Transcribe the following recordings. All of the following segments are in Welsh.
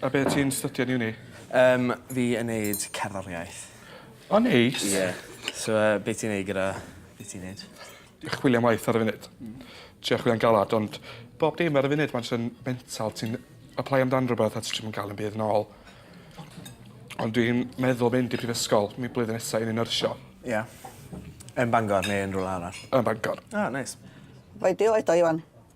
A be' ti'n stydio yn uni? Yym fi yn neud cerddoriaeth. O neis. Ie. So yy be' ti'n neud gyda be' ti'n neud? Chwilio am waith ar y funud. Hmm. Trio chwilio'n galad ond bob dim ar y funud ma'n js yn mental ti'n aplaio amdan rwbeth a ti js 'im yn ga'l 'im byd nôl. Ond dwi'n meddwl mynd i prifysgol mi blwyddyn nesa i neu' nyrsio. Ia. Yn Bangor neu yn rwla arall? Yn Bangor. Ah neis. Bai di oed o Iwan?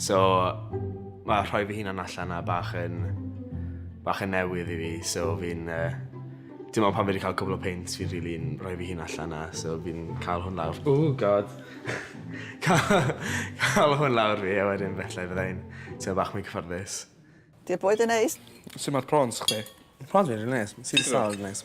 So, mae rhoi fy hunan allan a bach yn, bach yn newydd i fi, so fi'n... Uh, dim ond pan fi wedi cael cwbl o peint, fi'n rili really rhoi fy hun allan na, so fi'n cael hwn lawr. Oh god! cael, hwn lawr fi, a wedyn felly fyddai'n teimlo bach mwy cyfforddus. Di'r bwyd yn neis? Sut mae'r prawns chdi? Prawns fi'n rili neis, sy'n sal yn neis.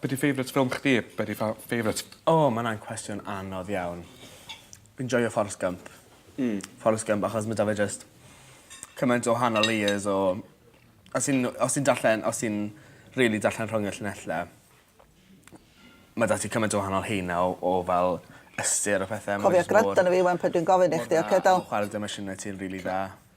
Be' 'di favourite film chdi a be' 'di fa- favourite... O ma' wnna'n cwestiwn anodd iawn. Fi'n joio Forrest Gump. Hmm. Forrest Gump achos ma' 'da fe jyst cymaint o wahanol layers o os ti'n w- os ti'n darllen os ti'n rili darllen rhwng y llinelle ma' 'da ti cymaint o wahanol haenau o o fel ystyr a phethe a ma' jyst mor... Cofio gwrando arno fi 'wan pan dwi'n gofyn i chdi oce do? Chware dy emosiyne ti yn rili dda.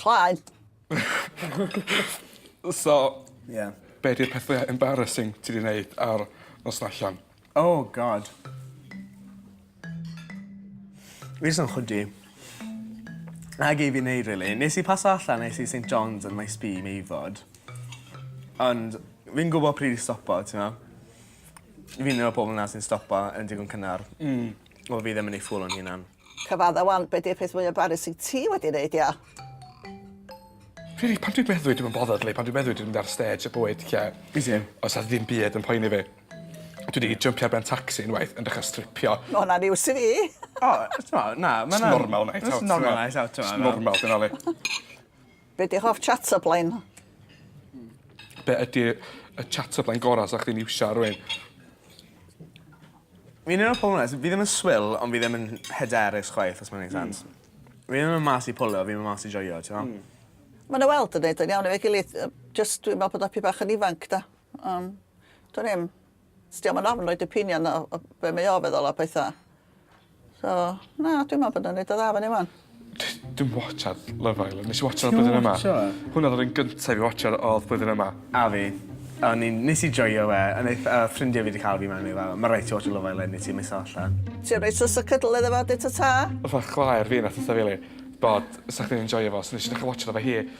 Cloi! So... Ie. ...be' 'di'r peth fwya embarrasing ti 'di neud ar noson allan? Oh God. Fi jys yn chwydu. 'Na gei fi neud rili. Nes i paso allan es i Saint John's yn Maes B i Meifod. Ond fi'n gwbo pryd i stopo t'mo'? Fi'n un o'r pobol 'na sy'n stopo yn digon cynnar. Hmm. Wel fi ddim yn ei fwlo'n hunan. Cyfadda wan, be di'r peth mwya barus wyt ti wedi neud ia? Rili, pan dwi'n meddwi dwi'm yn bothered li, pan dwi'n meddwi dwi'n mynd ar stêj y bywyd lle... Fi same. ...oes 'a ddim byd yn poeni fi. Dwi 'di jympio ar ben tacsi unwaith yn dechra stripio. Ma' hwnna'n news i fi. O, t'mo', na, ma' wnna'n... Jyst normal night out. Jyst normal night out t'mo'? Jyst normal 'di wnna li. Be di hoff chatterplain? Be ydi y chatterplain gora sa chdi'n iwsio ar rywun? Fi'n un o'r pobol 'na sy fi ddim yn swil ond fi ddim yn hyderus chwaith os ma'n neud sense. Hmm. Fi ddim yn mas i pwlio fi myn' mas i joio t'mo'? Hmm. Ma' 'na weld yn neud yn iawn efo'i gilydd yy jyst dwi me'wl bod o 'pyn bach yn ifanc 'da. Yym. Dwn i'm. Dio'm yn ofn roid opinion o o be' mae o feddwl a petha. So, na, dwi me'wl bod o'n neud o dda fyny ŵan. Dwi'm watshiad Love Island. Nes i watshiad y blwyddyn yma. Ti'm yn watsio e? Hwnna odd yr un gynta i fi watsio yr odd blwyddyn yma. A fi. O'n i'n... Nes i joio fe a neith yy ffrindie fi 'di ca'l fi mewn i fe fel ma' raid ti watsio Love Island neu ti misso allan. Ti reit sws o cydl iddo fo a deu ta ta. Fatha chwaer fi nath deu 'tha fi yli bod sa chdi'n enjoio fo so nes i dechra watsio fo efo hi